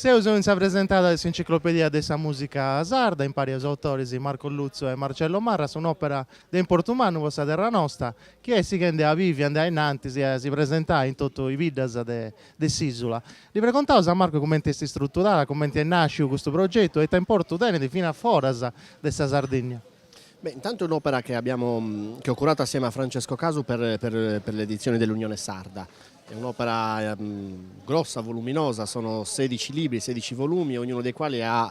Seus in sa presentada de s'Enciclopedia de sa mùsica sarda, impari a is autoris Marco Lutzu e Marcello Marras, un'òpera de importu mannu po sa terra nosta, chi est sighendi a bivi e andai a innantis e a si presentai in totu is biddas de de s'ìsula. Li pregontaus a Marco cumenti est istruturada, cumenti est nàsciu custu progetu e ita importu tenit finas foras de sa Sardigna. Beh, intanto è un'opera che abbiamo che ho curato assieme a Francesco Casu per per per l'edizione dell'Unione Sarda. È un'opera grossa, voluminosa, sono sedici libri, sedici volumi, ognuno dei quali ha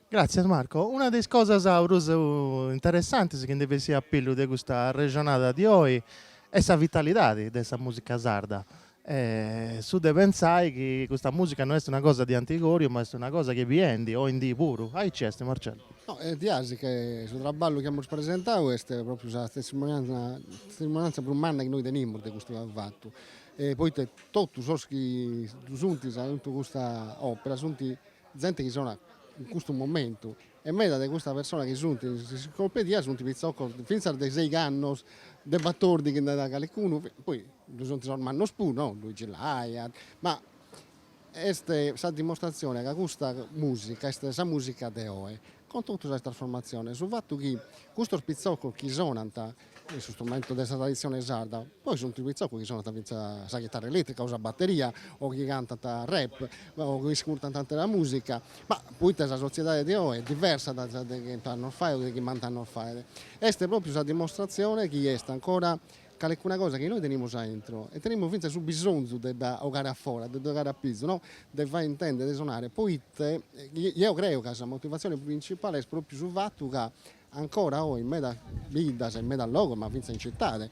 Gràtzias Marco. Una de is cosas prus interessantis chi ndi bessit a pillu de custa arrexonada di oi est sa vitalidadi de sa mùsica sarda. Su de pentzai chi custa mùsica no est una cosa di antigòriu ma est una cosa chi est bivendi oi in dì puru. Aici est Marcello. No, est diaxi chi su traballu chi amus presentau est pròpriu sa testimonianza prus manna chi nois tenimus de custu fatu, poita totus sos chi ddu sunt chi funt aintru 'e custa òpera sunt Zente chi sonat in custu momentu e meda de custas personas chi sunt in s'enciclopedia sunt pitzocos fintzas de seigh'annos de batordi chi nd'at calicunu, poi ddu sunt sos mannos puru no, Luigi Lai, ma est sa dimostratzione ca custa musica est sa musica de oe, cun totu sas trasformatziones, su fatu chi custos pitzocos chi sonant in su strumentu de sa traditzione sarda. Poi sunt fintzas pitzocos chi sonant fintzas sa chitarra eletrica o sa batteria o chi cantant rap o chi iscurtant atera musica, ma poita sa sotziedade de oe est diversa dae sa de chent'annos faet o de chimbant'annos faet, est propriu sa dimostratzione chi est ancora calecuna cosa chi nois tenimus a intro e tenimus fintzas su bisonzu de dda 'ogare a fora, de dda 'ogare a pizu no, de fai intender, de sonare, poita eo creo ca sa motivatzione principale est propriu su fatu ca Ancora oi in medas biddas e in medas logos, ma fintzas in citade,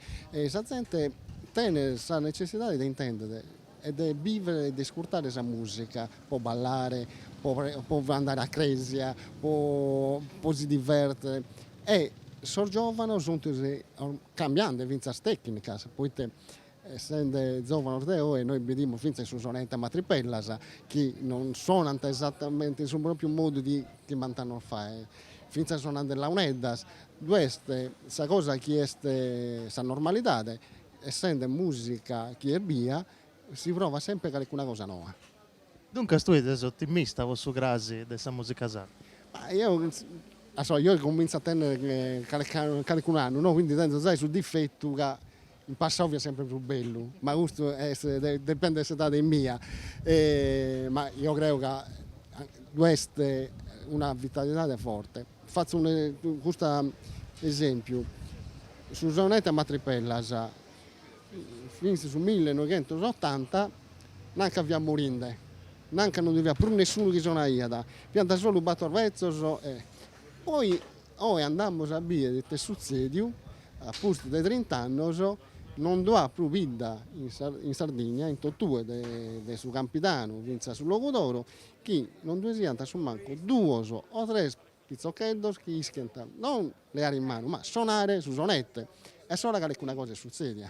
sa zente tenet sa netzessidade de intender e de biver e de iscurtare custa musica po ballare, po po andare a cresia, po po si diverter e sos giovanos sunt cambiande fintzas tecnicas, poite Essende zòvanos de oe, nois bidimus fintzas in su sonete a matripera chi non sonant esatamente in su pròpiu modu de chimbant'annos faet, fintzas sonande launeddas, cust'est sa cosa chi est sa normalidade, essende mùsica chi est bia si provat semper calicuna cosa noa. Duncas tue ses otimista pro su crasi de sa mùsica sarda? Ma eo oi cominzo a tènnere calicun'annu no, quindi tenzo zai su difetu ca In passau fiat semper prus bellu, ma custu dependet de s'edadi mia, ma eo creo ca ddu est una vitalidadi forti. Fatzu custu esempiu, su sonete a matripellas, fintzas su millenoighentosotanta, nanca fiat morinde, nanca non ndi fiat prus nessunu chi sonaiat, fiant solu bator betzos e poi Oe andamus a bier it'est sutzèdiu, a pustis de trint'annos no ddu at prus bidda in Sardigna in totue de su Campidanu fintzas su Logudoro chi no ddue siant a su mancu duos o tres pitzocheddos chi ischiant non leare in manu ma sonare su sonette e a s'ora calecuna cosa est sutzedia.